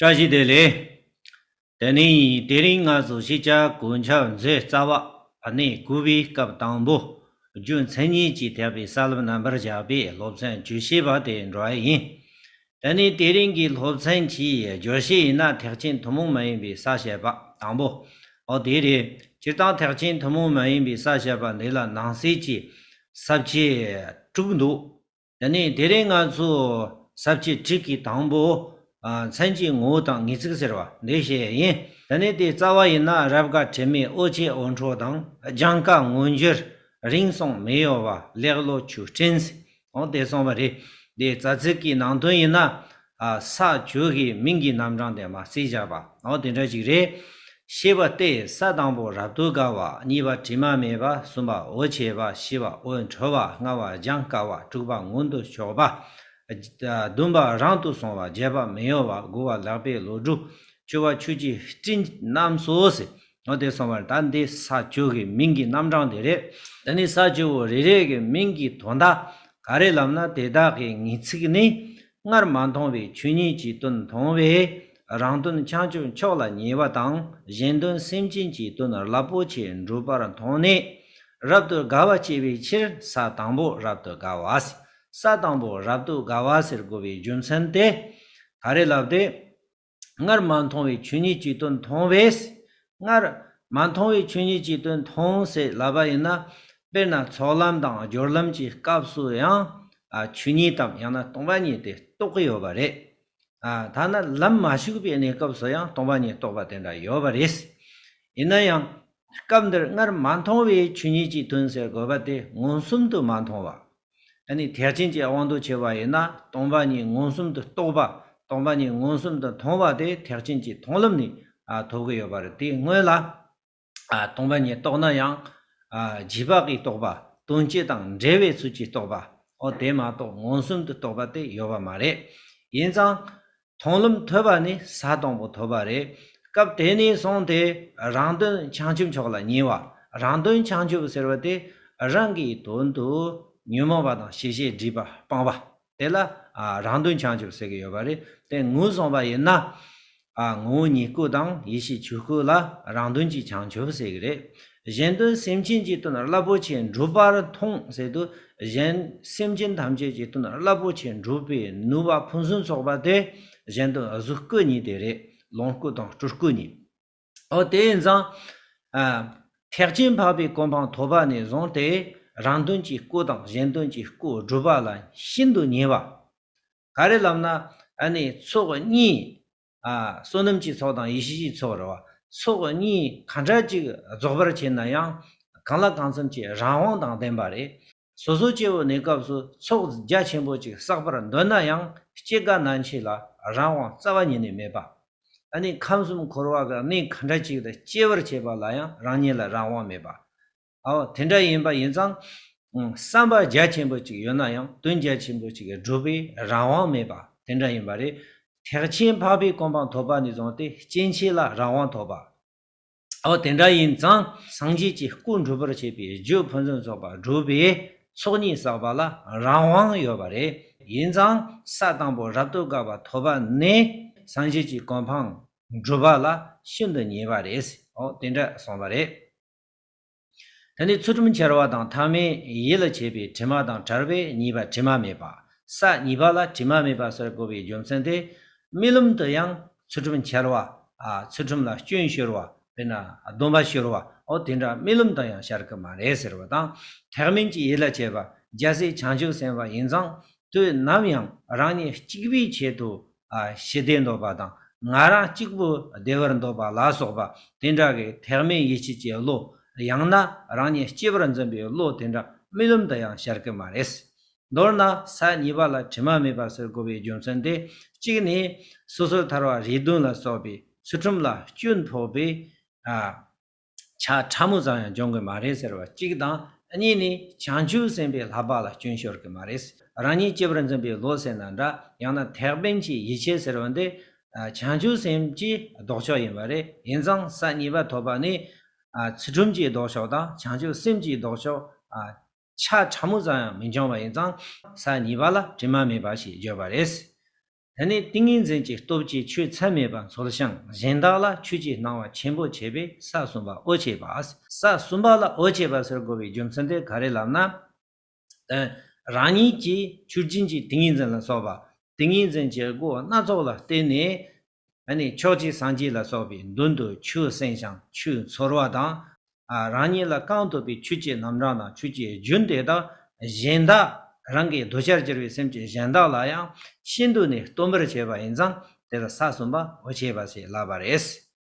བཀྲ་ཤིས་བདེ་ལེགས། དེ་ནི་དེ་རིང་ང་ཚོ་གཞིས་ཆགས་དགུན་ཆར་མཛོད་རྩ་བ་བར་གནས་བསྐུལ་བའི་སྐབས་དང་པོ་རྒྱུ་མཚན་གཉིས་ཀྱིས་ཐེག་པའི་ས་ལམ་རྣམ་པར་བཞག་པའི་སློབ་ཚན་བཅུ་བཞི་པ་དེ་འགྲོ་བ་ཡིན། དེ་ནི་དེ་རིང་གི་སློབ་ཚན་གྱི་བརྗོད་གཞི་ཡིན་ན་ཐེག་ཆེན་ཐུན་མོང་མ་ཡིན་པའི་ས་བཤད་པ་དང་པོ་འོ་དེ་རེད། སྤྱིར་བཏང་ཐེག་ཆེན་ཐུན་མོང་མ་ཡིན་པའི་ས་བཤད་པ་འདི་ལ་ནང་གསེས་ཀྱི་ས་བཅད་དྲུག་འདུག་དེ་ནས་དེ་རིང་ང་ཚོས་ཟབ་ཁྱད་ཁྲིད་ཀྱི་དང་པོ། མཚན་གྱི་ངོ་བོ་དང་ངེས་ཚིག་ཟེར་བ་འདི་བཤད་ཡིན། དེ་ནས་དེའི་རྩ་བ་ཡིན་ན་རབ་དགའ་དྲི་མེད་ཨོ་ཆེ་ཨོ་འཕྲོ་དང་སྦྱང་དཀའ་མངོན་གྱུར་རིང་སོང་མི་གཡོ་བ་ལེགས་བློ་ཆུ་སྤྲིན། དེ་གསུངས་པ་རེད། དེའི་རྩ་ཚིག་གི་ནང་དོན་ཡིན་ན་ས་བཅུ་གའི་མིང་གི་རྣམ་གྲངས་དེ་མ་རྩིས་སྦྱར་བ་འོ་དེ་འདྲ་ཞིག་རེད། ཞེས་པ་སྟེ་ས་དང་པོ་རབ་ཏུ་དགའ་བ་གཉིས་པ་དྲི་མ་མེད་པ་གསུམ་པ་འོད་བྱེད་པ་བཞི་པ་འོད་འཕྲོ་བ་ལྔ་བ་སྦྱང་དཀའ་བ་དྲུག་པ་མངོན་དུ་ཕྱོགས་པ། བདུན་པ་རང་དུ་སོང་བ་བརྒྱད་པ་མི་གཡོ་བ་དགུ་བ་ལག་པའི་ལོ་དྲུག་བཅུ་བ་ཆུ་གཅིག་སྤྲིན་རྣམས་སོ་ཟེར་འོ་དེ་སོང་བར་ད་འདི་ས་བཅུ་གའི་མིང་གི་རྣམ་གྲངས་དེ་རེད། འདི་ནི་ས་བཅུ་བོ་རེ་རེ་གའི་མིང་གི་དོན་དག་ག་རེ་ལབ་ན་དེ་དག་གི་ངེས་ཚིག་ནི་སྔར་མ་མཐོང་བའི་ཆོས་ཉིད་ཀྱི་དོན་མཐོང་བས་རང་དོན་བྱང་ཆུབ་མཆོག་ལ་ཉེ་བ་དང་གཞན་དོན་སེམས་ཅན་གྱི་དོན་རླབས་པོ་ཆེ་འགྲུབ་པར་མཐོང་ནས་རབ་ཏུ་དགའ་བ་སྐྱེ་བའི་ཕྱིར་ས་དང་པོ་རབ་ཏུ་དགའ་བ། ས་དང་པོ་རབ་ཏུ་དགའ་བ་ཟེར་དགོས་པའི་རྒྱུ་མཚན་ཏེ། ད་རེས་ལབ་སྟེ། སྔར་མ་མཐོང་བའི་ཆོས་ཉིད་ཀྱི་དོན་མཐོང་བས། སྔར་མ་མཐོང་བའི་ཆོས་ཉིད་ཀྱི་དོན་མཐོང་ཞེས་ལབ་པ་ཡིན་ན། དཔེར་ན་ཚོགས་ལམ་དང་སྦྱོར་ལམ་གྱི་སྐབས་སུ་ཡང། ཆོས་ཉིད་དམ་ཡང་ན་སྟོང་པ་ཉིད་དེ་རྟོགས་ཀྱི་ཡོད་པ་རེད། ཐ་ན་ལམ་མ་ཞུགས་པའི་གནས་སྐབས་སུ་ཡང་སྟོང་པ་ཉིད་རྟོགས་པ་དེ་འདྲ་ཡོད་པ་རེད། ཡིན་ན་ཡང། སྐབས་འདིར་སྔར་མ་མཐོང་བའི་ཆོས་ཉིད་ཀྱི་དོན་ཟེར་དགོས་པ་དེ་མངོན་སུམ་དུ་མ་མཐོང་བ། ད་ནི་ཐེག་ཆེན་གྱི་དབང་དུ་བྱས་པ་ཡིན་ན་སྟོང་པ་ཉིད་མངོན་སུམ་དུ་རྟོགས་པ་སྟོང་པ་ཉིད་མངོན་སུམ་དུ་མཐོང་བ་དེ་ཐེག་ཆེན་གྱི་མཐོང་ལམ་ནི་ཐོབ་ཀྱི་ཡོད་པ་རེད་དེ་སྔོན་ལ་སྟོང་པ་ཉིད་རྟོགས་ན་ཡང། རྗེས་དཔག་གིས་རྟོགས་པ་དོན་སྤྱི་དང་འབྲེལ་བའི་ཚུལ་གྱིས་རྟོགས་པའོ་དེ་མ་གཏོགས་མངོན་སུམ་དུ་རྟོགས་པ་དེ་ཡོད་པ་མ་རེད། ཡིན་ཙང། མཐོང་ལམ་ཐོས་པ་ནི་ས་དང་པོ་ཐོབ་པ་རེད། སྐབས་དེ་ནས་བཟུང་སྟེ་རང་དོན་བྱང་ཆུབ་མཆོག་ལ་ཉེ་བ། རང་དོན་བྱང་ཆུབ་ཟེར་བ་དེ་རང་གི་དོན་དུ་ཉོན་མོངས་པ་དང་ཤེས་བྱའི་སྒྲིབ་པ་སྤངས་པ། དེ་ལ་རང་དོན་བྱང་ཆུབ་ཟེར་གྱི་ཡོད་པ་རེད། དེ་ངོས་བཟུང་བ་ཡིན་ན། ངོ་བོ་ཉིད་སྐུ་དང་ཡེ་ཤེས་ཆོས་སྐུ་ལ་རང་དོན་གྱི་བྱང་ཆུབ་ཟེར་གྱི་རེད། གཞན་དོན་སེམས་ཅན་གྱི་དོན་རླབས་པོ་ཆེ་འགྲུབ་པར་མཐོང་ཟེར་དུས་གཞན་སེམས་ཅན་ཐམས་ཅད་ཀྱི་དོན་རླབས་པོ་ཆེ་འགྲུབ་པའི་ནུས་པ་ཕུན་སུམ་ཚོགས་པ་དེ་གཞན་དོན་གཟུགས་སྐུ་གཉིས་དེ་རེད་ལོངས་སྐུ་དང་སྤྲུལ་སྐུ་གཉིས། ཨོ་དེ་ཡིན་ཙང། ཐེག་ཆེན་འཕགས་པའི་གོ་འཕང་ཐོབ་པ་ནས་བཟུང་སྟེ་རང་དོན་གྱི་སྐུ་དང་གཞན་དོན་གྱི་སྐུ་སྒྲུབ་པ་ལ་ཤིན་ཏུ་ཉེ་བ། ག་རེ་ལབ་ན་ནི་ཚོགས་གཉིས་བསོད་ནམས་ཀྱི་ཚོགས་དང་ཡེ་ཤེས་ཀྱི་ཚོགས་རེ་བ་ཚོགས་གཉིས་གང་འདྲ་གཅིག་རྫོགས་པར་བྱེད་ན་ཡང་གང་ལ་གང་འཚམ་གྱི་རང་དབང་དང་ལྡན་པ་རེད། སོ་སོ་སྐྱེ་བོ་ནས་སྐབས་སུ་ཚོགས་རྒྱ་ཆེན་པོ་གཅིག་བསགས་པར་འདོད་ན་ཡང་སྐྱེ་རྒ་ན་འཆི་ལ་རང་དབང་རྩ་བ་ཉིད་ནས་མེད་པ། ནི་ཁམས་གསུམ་འཁོར་བ་ག་ནས་གང་འདྲ་གཅིག་ཏུ་སྐྱེ་བར་བྱེད་པ་ལ་ཡང་རང་ཉིད་ལ་རང་དབང་མེད་པ། ཨོ། དེ་འདྲ་ཡིན་པ་ཡིན་ཙང། བསམ་པ་རྒྱ་ཆེན་པོ་ཅིག་ཡོད་ན་ཡང་དོན་རྒྱ་ཆེན་པོ་ཅིག་གི་སྒྲུབ་པའི་རང་དབང་མེད་པ་དེ་འདྲ་ཡིན་པ་རེད། ཐེག་ཆེན་འཕགས་པའི་སྐོང་འཕང་ཐོབ་པ་ནས་བཟུང་སྟེ་སྐྱེ་མཆེད་ལ་རང་དབང་ཐོབ་པ། ཨོ། དེ་འདྲ་ཡིན་ཙང་སངས་རྒྱས་ཀྱི་སྐུ་འགྲུབ་པར་བྱེད་པའི་རྒྱུ་ཕུན་སུམ་ཚོགས་པ་སྒྲུབ་པའི་ཚོགས་གཉིས་བསགས་པ་ལ་རང་དབང་ཡོད་པ་རེད། ཡིན་ཙང་ས་དང་པོ་རབ་ཏུ་དགའ་བ་ཐོབ་པ་ནས་སངས་རྒྱས་ཀྱི་སྐོང་འཕང་སྒྲུབ་པ་ལ་ཤིན་ཏུ་ཉེ་བ་རེད། ཨོ། དེ་འདྲ་སོང་བ་རེད། ད་ནི་ཚུལ་ཁྲིམས་འཆལ་བ་དང་ཐ་མའི་ཡིད་ལ་བྱེད་པའི་དྲི་མ་དང་བྲལ་བས་གཉིས་པ་དྲི་མ་མེད་པ། ས་གཉིས་པ་ལ་དྲི་མ་མེད་པ་ཟེར་དགོས་པའི་རྒྱུ་མཚན་དེ། རྨི་ལམ་དུ་ཡང་ཚུལ་ཁྲིམས་འཆལ་བ། ཚུལ་ཁྲིམས་ལ་སྐྱོན་ཤོར་བ། དཔེར་ན་སྡོམ་པ་ཤོར་བ། འོ་དེ་འདྲ་རྨི་ལམ་དུ་ཡང་ཤར་གི་མ་རེད་ཟེར་བ་དང། ཐེག་དམན་གྱི་ཡིད་ལ་བྱེད་པ་རྒྱལ་སྲས་བྱང་ཆུབ་སེམས་དཔའ་ཡིན་ཙང་དུས་ནམ་ཡང་རང་ཉིད་གཅིག་པུའི་ཆེད་དུ་ཞི་བདེ་འདོད་པ་དང་ང་རང་གཅིག་པུ་བདེ་བར་འདོད་པ་ལ་སོགས་པ་དེ་འདྲ་བའི་ཐེག་དམན་ཡིད་བྱེད་ཀྱི་བློ། ཡང་ན་རང་ཉིད་སྐྱེ་བར་འཛིན་པའི་བློ་དེ་འདྲ་རྨི་ལམ་དུ་ཡང་ཤར་གི་མ་རེད། མདོར་ན་ས་གཉིས་པ་ལ་དྲི་མ་མེད་པ་ཟེར་དགོས་པའི་རྒྱུ་མཚན་དེ་གཅིག་ནི། སོ་སོར་ཐར་བ་རེ་འདུན་ལ་སོགས་པའི་ཚུལ་ཁྲིམས་ལ་སྐྱོན་ཕོག་པས། ཆ་ཕྲ་མོ་ཙམ་ཡང་སྦྱོང་གི་མ་རེད་ཟེར་བ་གཅིག་དང་གཉིས་ནི་བྱང་ཆུབ་སེམས་དཔའི་ལྷག་པ་ལ་སྐྱོན་ཤོར་གི་མ་རེད། རང་ཉིད་སྐྱེས་པར་འཛིན་པའི་བློ་ཟེར་ན་འདྲ་ཡང་ན་ཐེག་དཔལ་གྱི་ཡིད་ཆེས་ཟེར་བ་འདི་བྱང་ཆུབ་སེམས་ཀྱི་ལྡོག་ཕྱོགས་ཡིན་པ་རེད་ཡིན་ཙང་ས་གཉིས་པ་ཐོབ་པ་ནི་ཚུལ་ཁྲིམས་ཀྱི་ལྡོག་ཕྱོགས་དང་བྱང་ཆུབ་སེམས་ཀྱི་ལྡོག་ཕྱོགས་ཆ་ཕྲ་མོ་ཙམ་ཡང་མི་འབྱོང་བ་ཡིན་ཙང་ས་གཉིས་པ་ལ་དྲི་མ་མེད་པ་ཞེས་བརྗོད་པ་རེད། དེ་ནས་ཏིང་ངེ་འཛིན་གྱི་སྟོབས་ཀྱིས་ཆོས་ཚད་མེད་པ་མཚོར་བྱང་གཞན་དག་ལ་ཆོས་ཀྱི་སྣང་བ་ཆེན་པོ་བྱེད་པས་ས་གསུམ་པ་ཨོ་བྱེད་པ། ས་གསུམ་པ་ལ་ཨོ་བྱེད་པ་ཟེར་དགོས་པའི་རྒྱུ་མཚན་དེ་ག་རེ་ལབ་ན། རང་ཉིད་ཀྱི་ཆུ་སྦྱིན་གྱི་ཏིང་ངེ་འཛིན་ལ་སོགས་པ་ཏིང་ངེ་འཛིན་གྱི་སྒོ་སྣ་ཚོགས་ལ་བརྟེན་ནས། ཕྱོགས་གཅིག་སངས་རྒྱས་ལ་སོགས་པའི་མདུན་དུ་ཆུ་སེམས་བྱང་ཆུས་མཚོར་བ་དང་རང་ཉིད་ལ་རྐང་ཐོབ་པའི་ཆོས་ཀྱི་རྣམ་གྲངས་དང་ཆོས་ཀྱི་རྒྱུན་དེ་དག་གཞན་དག་རང་གི་གདུལ་བྱར་གྱུར་པའི་སེམས་ཅན་གཞན་དག་ལ་ཡང་ཤིན་ཏུ་ནས་སྟོན་པར་བྱེད་པ་ཡིན་ཙང་དེ་ལ་ས་གསུམ་པ་འོ་བྱེད་པ་ཞེས་བསླབ་པར་ཨེ་སྲིད།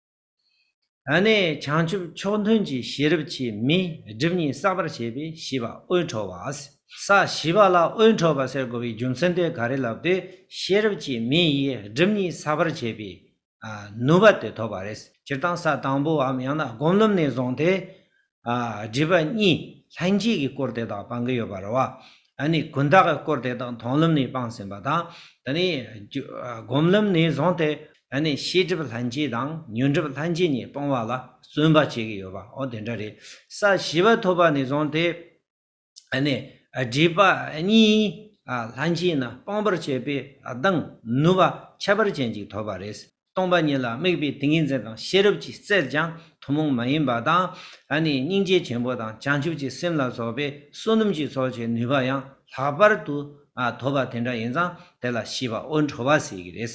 ཨ་ནི་བྱང་ཆུབ་མཆོག་མཐུན་གྱི་ཤེས་རབ་ཀྱིས་མིའི་སྒྲིབ་གཉིས་བསགས་པར་བྱེད་པའི་བྱིས་པ་དབུལ་འཕྲོག་བ། ས་བྱིས་པ་ལ་དབུལ་འཕྲོག་པ་ཟེར་དགོས་པའི་རྒྱུ་མཚན་དེ་ག་རེ་ལབ་དུས་ཤེས་རབ་ཀྱིས་མིའི་ཡིད་སྒྲིབ་གཉིས་བསགས་པར་བྱེད་པའི་ནུས་པ་དེ་ཐོབ་པ་རེད། སྤྱིར་བཏང་ས་དང་པོའམ་ཡང་ན་སྒོམ་ལུགས་ནས་བཟུང་སྟེ། སྒྲིབ་པ་གཉིས་ལྷན་སྐྱེས་ཀྱི་སྐོར་དེ་དག་སྤང་གི་ཡོད་པ་རེད། ད་ནི་ཀུན་བརྟགས་ཀྱི་སྐོར་དེ་དག་མཐོང་ལམ་ནས་སྤངས་ཟིན་པ་དང། ད་ནི་སྒོམ་ལམ་ནས་བཟུང་སྟེ། ད་ནི་ཤེས་སྒྲིབ་ལྷན་སྐྱེས་དང་ཉོན་སྒྲིབ་ལྷན་སྐྱེས་གཉིས་སྤོང་བ་ལ་བརྩོན་པ་བྱེད་ཀྱི་ཡོད་པའོ་དེ་འདྲ་རེད། ས་བཞི་པ་ཐོབ་པ་ནས་བཟུང་སྟེ། སྒྲིབ་པ་གཉིས་ལྷན་སྐྱེས་ན་སྤང་བར་བྱེད་པས་གདངས་ནུབ་པ་ཁྱད་པར་ཅན་གྱིས་ཐོབ་པ་རེད། སྟོང་པ་ཉིད་ལ་དམིགས་པའི་ཏིང་ངེ་འཛིན་དང་ཤེས་རབ་ཀྱིས་བཙལ་ཀྱང་ཐུན་མོང་མ་ཡིན་པ་དང། སྙིང་རྗེ་ཆེན་པོ་དང་བྱང་ཆུབ་ཀྱི་སེམས་ལ་སོགས་པའི་བསོད་ནམས་ཀྱི་ཚོགས་ཀྱི་ནུས་པ་ཡང་ལྷག་པར་དུ་ཐོབ་པ་དེ་འདྲ་ཡིན་ཙང་དེ་ལ་ཤེས་པ་དབུལ་འཕྲོ་བ་ཟེར་གྱི་རེད།